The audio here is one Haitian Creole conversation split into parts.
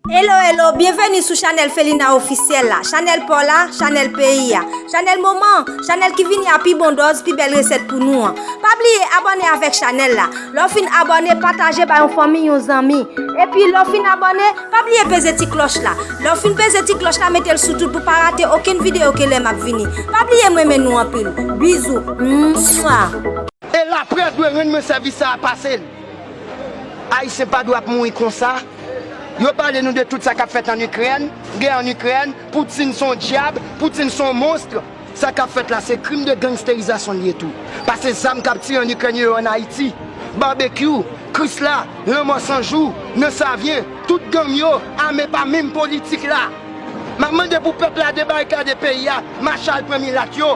Hello hello byenveni sou chanèl Felina officiel la chanèl paw la chanèl peyi a chanèl moman an chanèl ki vini a pi bon dòz pi bèl resèt pou nou an pa bliye abòne avèk chanèl la lè w fin abòne pataje ba yon fanmi yon zanmi epi lè w fin abòne pa bliye peze ti klòch la lè w fin peze ti klòch la mete l sou tout pou pa rate okenn videyo ke lè map vini pa bliye m renmen nou anpil bizou mouah. Elapre dwe renmen sèvis sa a pase l. Ayisyen pa dwe ap mouri konsa. Yo pale nou de tout sa kap fèt an Ikrèn, gè an Ikrèn, Poutine son dyab, Poutine son monstre. Sa kap fèt la se krim de gangsterizasyon li ye tou. Pase zam kap tire an Ikrèn yo yo an Ayiti. Barbecue, Krisla, Lanmò San Jou, Nan Savyen, tout gang yo ame pa menm politik la. Map mande pou pèp la debarikade peyi a, mache al pran milat yo.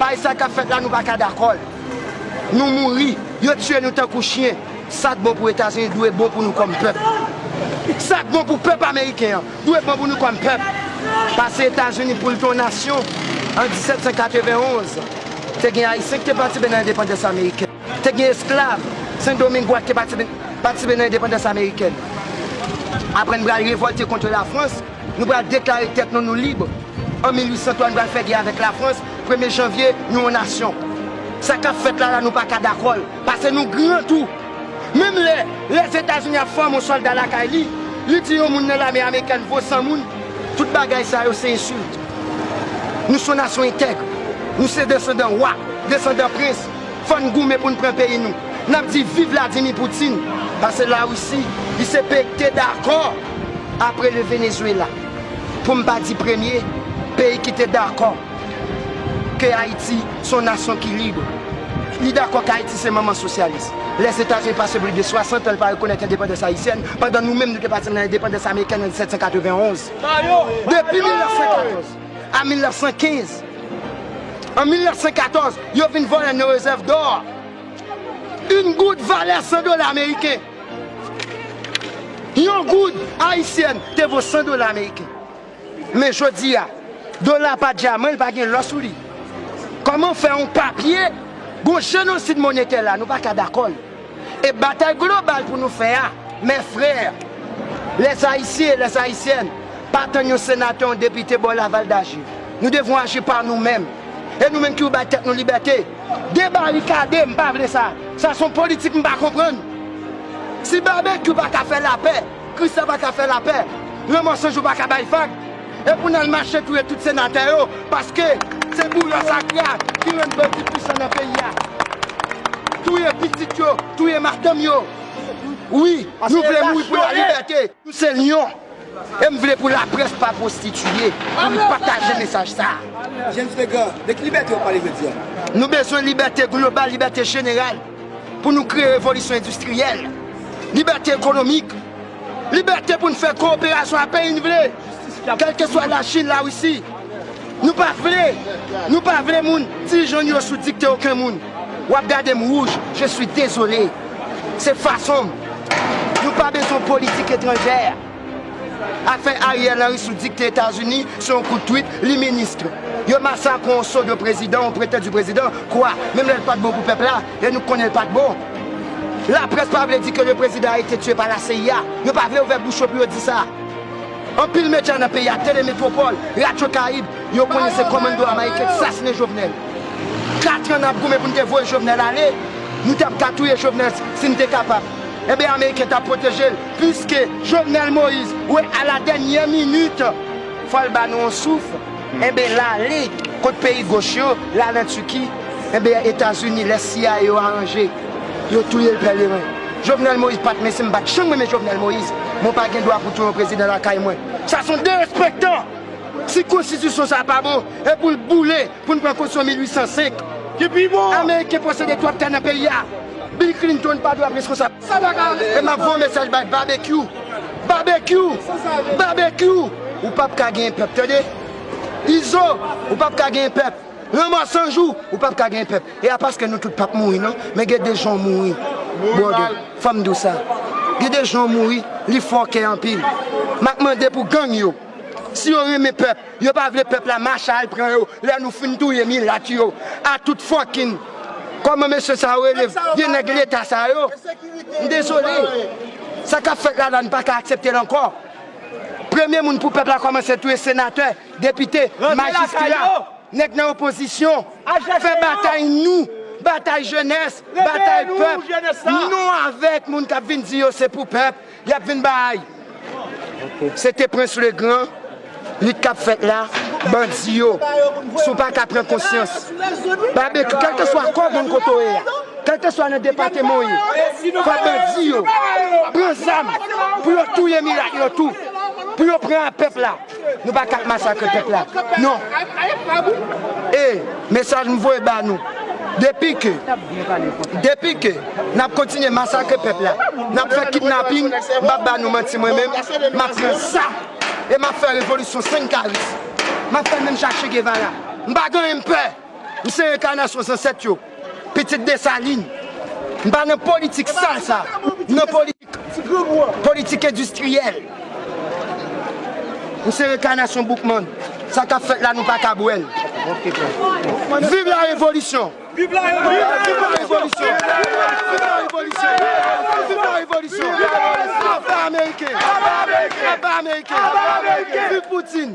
Pay sa kap fèt la nou paka dakòl nou mouri yo tiye nou tankou chyen sak bon pou etazini dwe bon pou nou kòm pèp sak bon pou pèp ameriken an dwe bon pou nou kòm pèp pase etazini poul te yon nasyon an 1791 te gen ayisyen ki te patisipe nan endepandans amerikèn te gen esklav sendomingwa ki te patisipe nan endepandans amerikèn aprè n pral revòlte kontre lafrans. Nou pral deklare tèt nou nou lib an 1803 nou pral fè gè avèk lafrans premye janvye nou yon nasyon sa kap fèt la la nou paka dakòl pase nou gran tou menm lè lèzetazini ap fòme yon sòlda lakay li li di yon moun nan lame amerikèn vo 100 moun tout bagay sa yo se ensilt nou son nasyon entègre nou se desandan wa desandan prens. Fò n goumen pou n pran peyi nou. N ap di viv Vladimir Poutine. Pase la Russie li se peyi k te dakò apre le Venezuela pou m pa di premye peyi ki te dakò ke Ayiti se yon nasyon ki lib. Li dakò ke Ayiti se manman sosyalis. Lèzetazini pase plis de 60 an l pa rekonèt endepandans ayisyèn pandan nou menm nou te pati nan endepandans amerikèn an 1791. Depi 1914. a 1915. An 1914, yo vin vòlè nou rezèv dò a. Yn goud valè 100 dola ameriken. Yon goud ayisyèn te vo 100 dola ameriken. Men jodi a, dola pa dyaman, li pa gen lò sou li. Kòman fè yon papye, yon jenosid monetè la, nou pa ka dakò l. E batay global pou nou fè a, mes frères, les Haïtiens et les Haïtiennes, pa tann yon senatè, yon depite bò Laval daji. Nou devon aji pa nou menm. E nou menm ki ou bay tèt nou libète, debarikade, m pa vle sa. Sa son politik m pa konprann. Si Babekyou pa ka fè lapè, Christian pa ka fè lapè, Raymond Sanjou pa ka bay vag, E pou nal mache touye tout senatè yo paske se bourya sakra ki rann bandi pwisan nan peyi a touye pitit yo touye madanm yo wi nou vle mouri pou la libète nou se lyon e m vle pou la près pa pwostitiye pou nou pataje mesaj sa James Legrand de ki libète wap pale jodi a? Nou bezwen libète global libète jeneral pou nou kreye revolisyon endistriyèl libète ekonomik. Libète pou n fè kowoperasyon ak peyi n vle, kèlkeswa Lachin, Larisi. Nou pa vle, nou pa vle moun ti jan n yo sou dikte oken moun. W ap gade m wouj, je suis désolé. Se fason m. Nou pa bezwen politik etranjè. Afè Ariel Henry sou dikte Etazini se yon kout twit, li ministre. Yo masakre yon sodo prezidan, yon pretè di prezidan, kwa? Menm lè l pa t bon pou pèp la. E nou konnen l pat bon. Laprès pa vle di ke le prezidan a ete tue pa la CIA. Yo pa vle ouvè bouch yo pou yo di sa. Anpil medya nan peyi a, Tele Metropole, Radio Caraïbe, yo konnen se komando Amayiken ki sasinen Jovenel. Katran nap goumen pou n te voye Jovenel ale. Nou tap ka touye Jovenel si n te kapab. Enben Ameriken tap pwoteje l. Puiske Jovenel Moise we a la dènyè minit fò l ba nou yon souf. Enben la ale kot peyi goch yo la nan Turquie enben etazini lè cia yo aranje yo touyel pèleren Jovenel Moïse pat men sim pat janm renmen Jovenel Moïse men w pa gen dwa pou touye yon prezidan lakay mwen sa son derespektan si konstitisyon sa pa bon e pou l boule pou n pran konstitisyon 1805 ameriken posede twòp tè nan peyi a Bill Clinton pa dwe ap reskonsab. E map voye mesaj bay babekyou babekyou babekyou ou pap ka genyen pèp tande izo ou pap ka genyen pèp lanmò sanjou ou pap ka genyen pèp e a paske nou tout pap mouri non men gen de jan w mouri brother fòm di w sa gen de jan w mouri li fòkè anpil map mande pou gang yo si yo renmen pèp Yo pa vle pèp la mache al pran yo lè nou fin touye milat yo a tout fucking Kòman mesye sa yo rele vye nèg leta sa yo M dezole Sa kap fèt la la n paka aksepte l ankò Premye moun pou pèp la kòmanse touye senatè depite majistra nèg nan opozisyon fè batay nou batay jenès batay pèp nou avèk moun kap vin di yo se pou pèp Yap vin bay. Se te prince le grand lit kap fèt la bandi yo si w paka pran konsyans babecue kelkeswa kò gang kote w ye a kelkeswa nan depateman w ye fò bandi yo pran zam pou yo touye milat yo tou pou yo pran a pèp la. Nou pa kap masakre pèp la non e mesaj m voye ba nou depi ke depi ke nap kontinye masakre pèp la nap fè kidnaping m pap ba nou manti mwen menm map pran sa e map fè revolisyon sen karis map fè menm jan chegevara m pa gen anyen m pè m se enkanasyon zansèt yo pitit desalin m pa nan politik sal sa m nan politik. Politik endistriyèl M se rekanasyon Boukman Sa kap fèt la nou pa kab wèl Viv la revolisyon Viv la revolisyon Viv la revolisyon Aba ameriken Aba ameriken Viv Poutine.